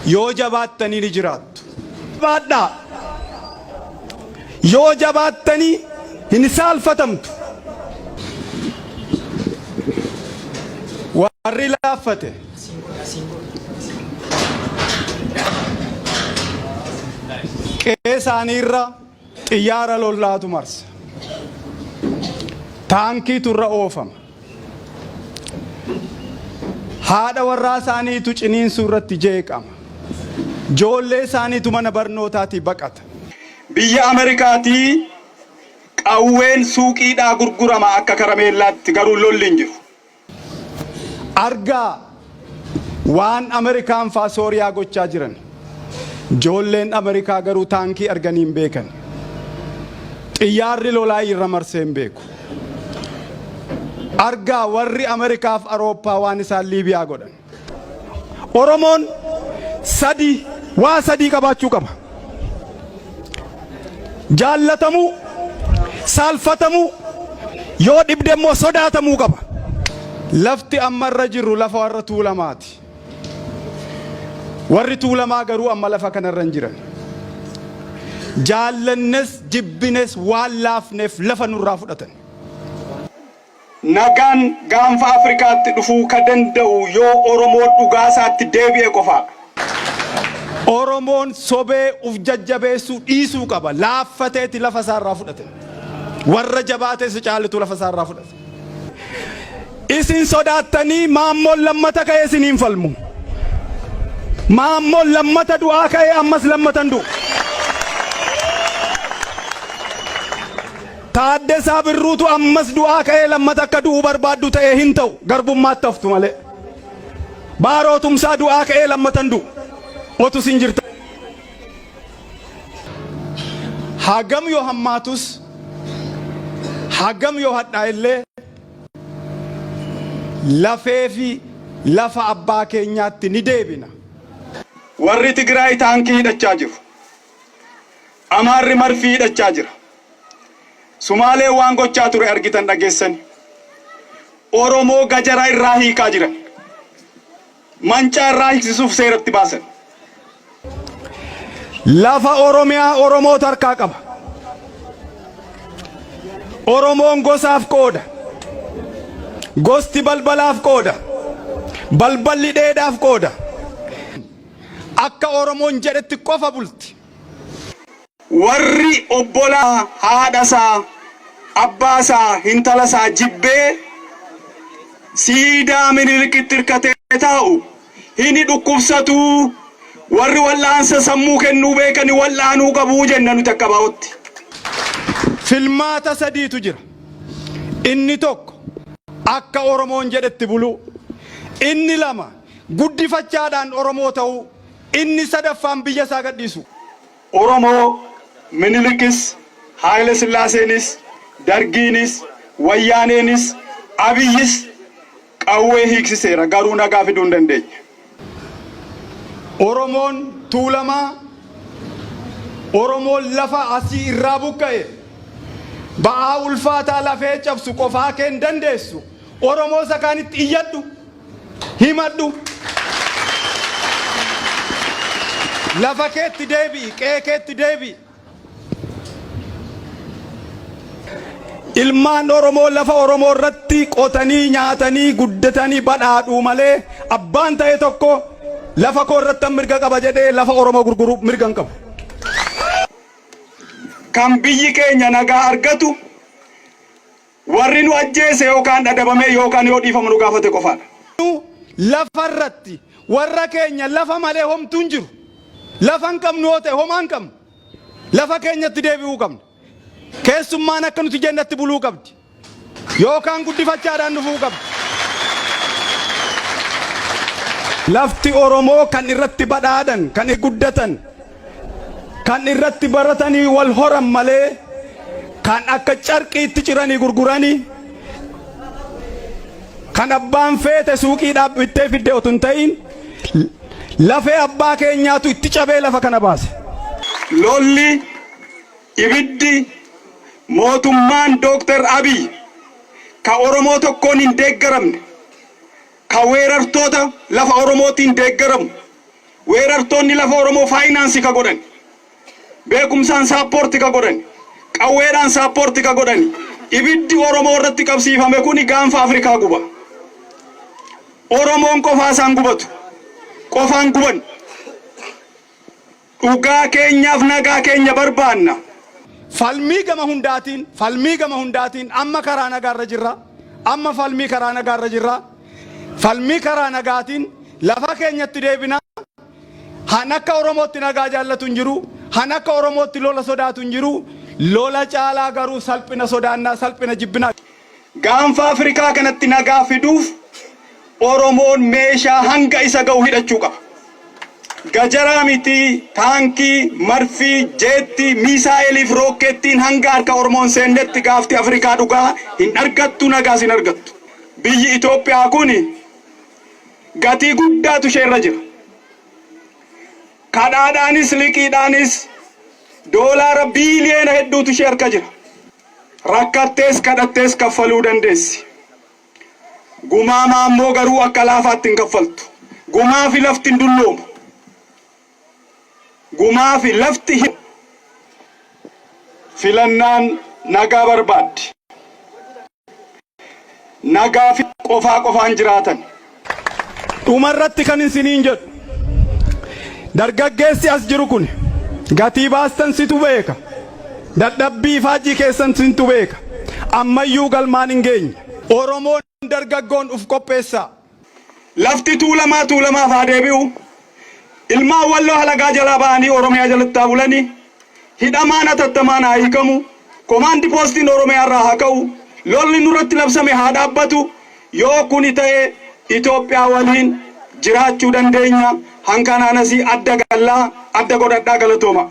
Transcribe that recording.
Yoo jabaattanii ni jiraattu. Jabaadhaa. Yoo jabaattanii hin saalfatamtu. Warri laaffate. Qe'ee isaanii irraa. Xiyyaara lollaatu marsa. Taankiitu irra oofama. Haadha warraa isaaniitu ciniinsuu irratti jeeqama. Joollee isaaniitu mana barnootaatii baqata. Biyya Amerikaatii qawween suuqiidhaa gurgurama akka karameellaatti, garuu lolli hin jiru. Argaa waan Amerikaan faa Sooriyaa gochaa jiran. Joolleen Amerikaa garuu taankii arganii hin beekan. Xiyyaarri lolaa irra marsee hin beeku. Argaa warri Amerikaaf Arooppaa waan isaan Liibiyaa godhan. Oromoon sadii waa sadii qabaachuu qaba. Jaallatamuu, saalfatamuu, yoo dhibde immoo sodaatamuu qaba. Lafti amma irra jirru lafa warra tuulamaati. Warri tuulamaa garuu amma lafa kanarra hin jiran. Jaallannes jibbines waan laafneef lafa nurraa fudhatan. Nagaan gaanfa Afrikaatti dhufuu ka danda'u yoo Oromoon dhugaasaatti deebi'e qofaadha. Oromoon sobee uf jajjabeessuu dhiisuu qaba. Laaffateeti lafa isaa irraa fudhate. Warra jabaate isa caalutu lafa isaa irraa fudhate. Isin sodaattanii Maammoon lammata ka'ee isiniin falmu. Maammoon lammata du'aa ka'ee ammas lammata hin du'u. Taaddasaa Birruutu ammas du'aa ka'ee lammata akka du'uu barbaaddu ta'ee hin ta'u. Garbummaatti haftu malee. Baaroo Tumsaa du'aa ka'ee lammata hin du'u. Otu isin jirta. Hagam yoo hammaatus, hagam yoo hadhaa illee lafee fi lafa abbaa keenyaatti ni deebina. Warri Tigraay taankii hidhachaa jiru. Amaarri marfii hidhachaa jira. Sumaaleen waan gochaa ture argitan dhageessani. Oromoo gajara irraa hiikaa jiran. Mancaa irraa hiiksisuuf seeratti baasan. Lafa Oromiyaa Oromootu harkaa qaba. Oromoon gosaaf qooda. Gosti balbalaaf qooda. Balballi dheedaaf qooda. Akka Oromoon jedhetti qofa bulti. Warri obbolaa haadha isaa, abbaa isaa, hintala isaa jibbee siidaa Minilikitti irkatee taa'u hini dhukkubsatu, warri wal'aansa sammuu kennuu beekani wal'aanuu qabu jenna nuti akka ABOtti. Filmaata sadiitu jira. Inni tokko akka Oromoon jedhetti buluu. Inni lama guddifachaadhaan Oromoo ta'uu, inni sadaffaan biyya isaa gadhiisuu. Oromoo, Minilikis, Haayile Sillaaseenis, Dargiinis, Wayyaaneenis, Abiyyis qawwee hiiksiseera, garuu nagaa fiduu hin dandeenye. Oromoon Tuulamaa, Oromoon lafa asii irraa buqqa'e, ba'aa ulfaataa lafee cabsu qofaa kee hin dandeessu, Oromoo isa kaanitti iyyadhu, himadhu. Lafa keetti deebi'i, qe'ee keetti deebi'i. Ilmaan Oromoo lafa Oromoo irratti qotanii nyaatanii guddatanii badhaadhuu malee abbaan ta'e tokko lafa koo irratti mirga qaba jedhee lafa Oromoo gurguruu mirga hin qabu. Kan biyyi keenya nagaa argatu Warri nu ajjeese yookaan dhadabamee yookaan yoo dhiifama nu gaafate qofaadha. Lafa irratti warra keenya lafa malee homtuu hin jiru. Lafa hin qabnu yoo ta'e homaa hin qabnu. Lafa keenyatti deebi'uu qabna. Keessummaan akka nuti jennatti buluu qabdi. Yookaan guddifachaadhaan dhufuu qabdi. Lafti Oromoo kan irratti badhaadhan, kan guddatan, kan irratti baratanii wal horan malee kan akka carqiitti ciranii gurguranii kan abbaan feete suuqii dhaabbittee fidde otu hin ta'iin lafee abbaa keenyaatu itti cabee lafa kana baase. Lolli ibiddi mootummaan Dooktar Abiy ka Oromoo tokkoon hin deeggaramne ka weerartoota lafa Oromootiin deeggaramu, weerartoonni lafa Oromoo faayinaansi ka godhani, beekumsaan saappoorti ka godhani, qawweedhaan saappoorti ka godhani, ibiddi Oromoo irratti qabsiifame kuni gaanfa Afrikaa guba. Oromoon qofaa isaan gubatu. Qofaan guban. Dhugaa keenyaaf nagaa keenya barbaanna. Falmii gama hundaatiin, falmii gama hundaatiin, amma karaa nagaa irra jirra, amma falmii karaa nagaa irra jirra, falmii karaa nagaatiin lafa keenyatti deebina, han akka Oromootti nagaa jaallatu hin jiru, han akka Oromootti lola sodaatu hin jiru, lola caalaa garuu salphina sodaannaa, salphina jibbina. Gaanfa Afrikaa kanatti nagaa fiduuf Oromoon meeshaa hanga isa ga'u hidhachuu qaba. Gajaraa mitii, taankii, marfii, jeettii, miisaa'eelii fi rookkeettiin hanga harka Oromoo hin seennetti gaafti Afrikaa dhugaa hin argattu, nagaas hin argattu. Biyyi Itoophiyaa kun gatii guddaatu ishee irra jira. Kadhaadhaanis liqiidhaanis doolaara biiliyoona hedduutu ishee harka jira. Rakkattees kadhattees kaffaluu dandeessi. Gumaa maammoo garuu akka laafaatti hin kaffaltu. Gumaafi lafti hin dulloomu. Gumaafi lafti hin Filannaan nagaa barbaaddi. nagaa fi qofaa qofaan jiraatan. Dhuma irratti kan isiniin jedhu dargaggeessi as jiru kuni gatii baastan situ beeka, dadhabbii ifaajjii keessan sintu beeka, ammayyuu galmaan hin geenye. Oromoon dargaggoon uf qopheessaa! Lafti Tuulamaa Tuulamaaf haa deebi'u. Ilmaan Walloo halagaa jalaa ba'anii Oromiyaa jalatti haa bulani. Hidhamaan hatattamaan haa hiikamu. Komaandi poostiin Oromiyaa irraa haa ka'u. Lolli nurratti labsame haa dhaabbatu. Yoo kuni ta'e Itoophiyaa waliin jiraachuu dandeenya. Hankanaanas adda galla. Adda godhadhaa galatooma.